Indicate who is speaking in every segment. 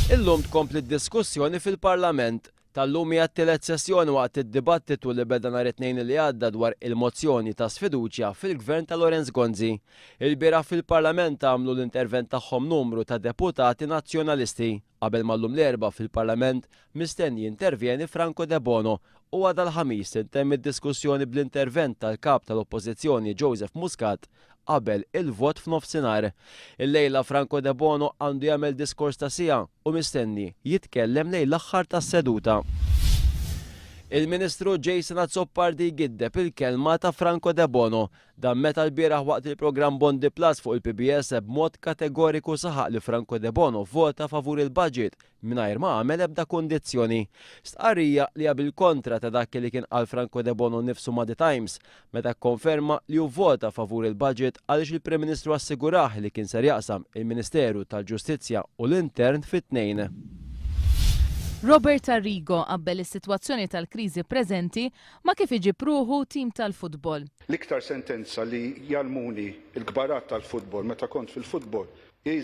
Speaker 1: Illum tkompli d-diskussjoni fil-Parlament. Tal-lum hija t-tielet sessjoni waqt id-dibattitu li beda nhar it-Tnejn li għadda dwar il-mozzjoni ta' sfiduċja fil-Gvern ta' Lawrence Gonzi. Ilbieraħ fil-Parlament għamlu l-intervent tagħhom numru ta' deputati Nazzjonalisti. Qabel ma llum l-Erbgħa fil-Parlament mistenni jintervjeni Franco Debono u għada l-Ħamis tintemm id-diskussjoni bl-intervent tal-Kap tal-Oppożizzjoni Joseph Muscat qabel il-vot f'nofsinhar. Illejla Franco Debono għandu jagħmel diskors ta' siegħa u mistenni jitkellem lejn l-aħħar tas-seduta. Il-Ministru Jason Azzopardi jgiddeb il-kelma ta' Franco Debono Dan meta lbieraħ waqt il-programm Bondi Plus fuq il-PBS b'mod kategoriku saħaq li Franco Debono vvota favur il-budget mingħajr ma għamel ebda kundizzjoni. Stqarrija li hija bil-kontra ta' dak li kien qal Franco Debono nnifsu ma' The Times meta kkonferma li hu vvota favur il-budget għaliex il-Prim Ministru assigurah li kien ser jaqsam il-Ministeru tal-Ġustizzja u l-Intern fit-tnejn.
Speaker 2: Robert Arrigo qabbel is-sitwazzjoni tal-kriżi preżenti Ma kif iġib ruħu team tal-futbol. L-iktar sentenza
Speaker 3: li jgħallmuni l-kbarat tal-futbol meta kont fil-futbol hi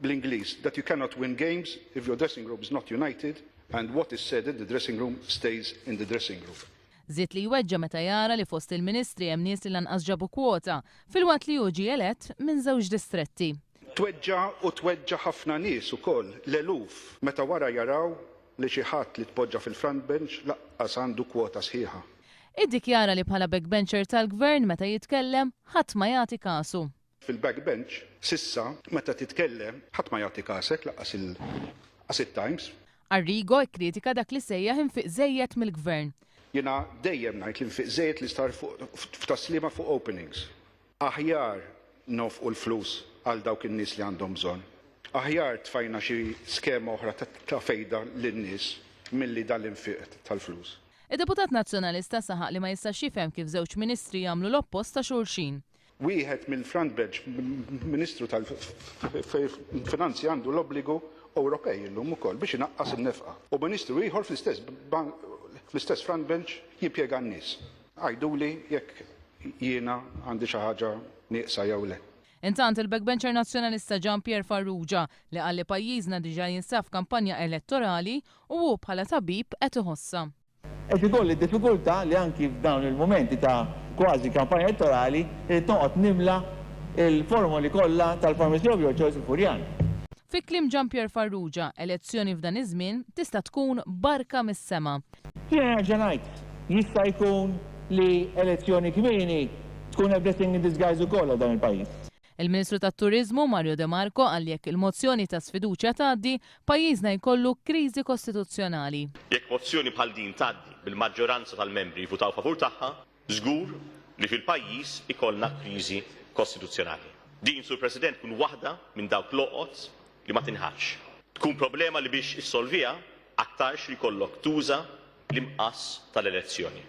Speaker 3: bl-Ingliż that you cannot win games if your dressing room is not united and what is said in the dressing room stays in the dressing room. Żied li jweġġa'
Speaker 2: meta jara li fost il-ministri hemm nies li lanqas ġabu kwota, filwaqt li hu ġie elett minn żewġ distretti. Tweġġa' u
Speaker 3: tweġġa' ħafna nies ukoll, l-eluf, meta wara jaraw li xi ħadd li tpoġġa fil-front bench lanqas għandu kwota sħiħa. Iddikjara li
Speaker 2: bħala backbencher tal-Gvern meta jitkellem, ħadd ma jagħti kasu. Fil-back bench,
Speaker 3: s'issa, meta titkellem, ħadd ma jagħti kasek, lanqas it-Times. Arrigo
Speaker 2: kkritika dak li sejjaħ infiq żejjed mill-Gvern. Jiena dejjem
Speaker 3: ngħid li nfiq żejjed li sar f'Tas-Sliema fuq openings. Aħjar nonfqu l-flus għal dawk in-nies li għandhom bżonn. Aħjar tfajna xi skema oħra ta' fejda lin-nies milli dan l-infiq tal-flus. Id-Deputat
Speaker 2: Nazzjonalista saħaq li ma jistax jifhem kif żewġ Ministri jagħmlu l-oppost ta' xulxin. Wieħed mill-front
Speaker 3: bench Ministru tal-Finanzi għandu l-obbligu Ewropej illum ukoll biex inaqqas in-nefqa u Ministru ieħor fl-istess front bench jimpjega n-nies. Għiduli jekk jiena għandi xi ħaġa nieqsa jew le. Intant, il-backbencher
Speaker 2: Nazzjonalista Jean Pierre Farrugia, li qal li pajjiżna diġà jinsab f'kampanja elettorali u hu bħala tabib qed iħossha. Qed ikolli
Speaker 4: diffikultà li anki f'dawn il-mumenti ta' kważi kampanja elettorali irrid noqgħod nimla l-formoli kollha tal-Pharmacy of Your Choice il-Furjan. Fi kliem
Speaker 2: Jean Pierre Farrugia, elezzjoni f'dan iż-żmien tista' tkun barka mis-sema. Jiena nerġa'
Speaker 4: ngħid, jista' jkun li elezzjoni kmieni tkun a blessing in disguise ukoll għal dan il-pajjiż. Il-Ministru tat-Turiżmu,
Speaker 2: Mario de Marco, qal li jekk il-mozzjoni ta' sfiduċja tgħaddi, pajjiżna jkollu kriżi kostituzzjonali. Jekk mozzjoni
Speaker 5: bħal din tgħaddi bil-maġġoranza tal-membri jivvutaw favur tagħha, Żgur li fil-pajjiż ikollna kriżi kostituzzjonali. Din, Sur President, tkun waħda minn dawk l-għoqod li ma tinħallx. Tkun problema li biex issolviha aktarx li jkollok tuża l-imqass tal-elezzjoni.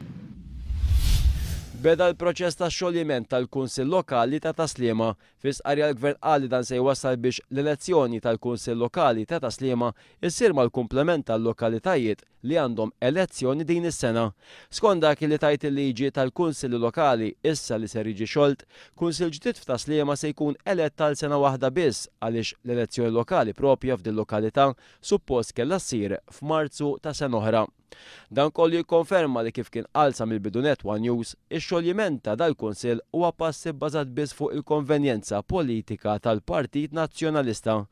Speaker 1: Beda l-proċess ta' xoljiment tal-Kunsill Lokali ta' Tas-Sliema. Fi stqarrija l-Gvern qal li dan se jwassal biex l-elezzjoni tal-Kunsill Lokali ta' Tas-Sliema ssir mal-kumplament tal-lokalitajiet li għandhom elezzjoni din is-sena. Skont dak li tgħid il-liġi tal-Kunsilli Lokali, issa li ser jiġi xolt, Kunsill ġdid f'Tas-Sliema se jkun elett għal sena waħda biss għaliex l-elezzjoni lokali proprja f'dil-lokalità suppost kellha ssir f'Marzu ta' sena oħra. Dan kollu jikkonferma li kif kien qal sa mill-bidu nett one News, ix-xoljiment ta' dal-Kunsill huwa pass ibbażat biss fuq il-konvenjenza politika tal-Partit Nazzjonalista.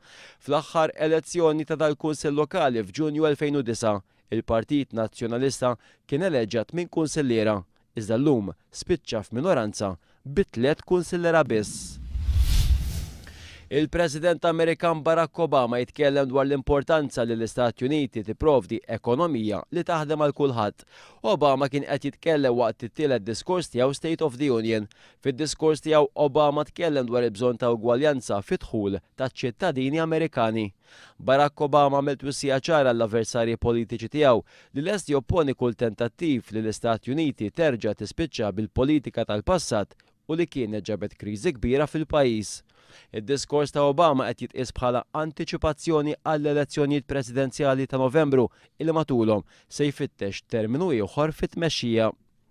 Speaker 1: Fl-aħħar elezzjoni ta' dal-Kunsill Lokali f'Ġunju 2009, il-Partit Nazzjonalista kien eleġġa tmien kunsilliera, iżda llum spiċċa f'minoranza bi tliet kunsillera biss. Il-President Amerikan Barack Obama jitkellem dwar l-importanza li l-Istati Uniti tipprovdi ekonomija li taħdem għal kulħadd. Obama kien qed jitkellem waqt it-tielet diskors tiegħu State of the Union, Fid-diskors tiegħu, Obama tkellem dwar il-bżonn ta' ugwaljanza fid-dħul taċ-ċittadini Amerikani. Barack Obama għamel twissija ċara għall-avversarji politiċi tiegħu li lest jopponi kull tentattiv li l-Istati Uniti terġa' tispiċċa bil-politika tal-passat u li kienet ġabet kriżi kbira fil-pajjiż. Id-diskors ta' Obama qed jitqies bħala antiċipazzjoni għall-elezzjonijiet presidenzjali ta' Novembru li matulhom se jfittex terminu ieħor fit-tmexxija.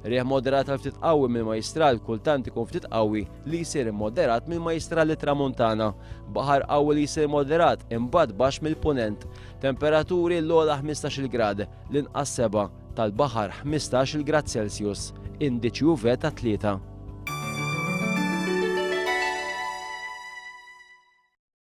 Speaker 1: Riħ moderat għal ftit qawwi mill-Majjistral kultant ikun ftit qawwi li jsir immoderat mill-Majjistral lit-Tramuntana. Baħar qawwi li jsir moderat imbagħad baxx mill-Punent. Temperaturi l-ogħla 15-il grad, l-inqas 7, tal-baħar 15-il grad Celsius, indiċi UV ta' 3.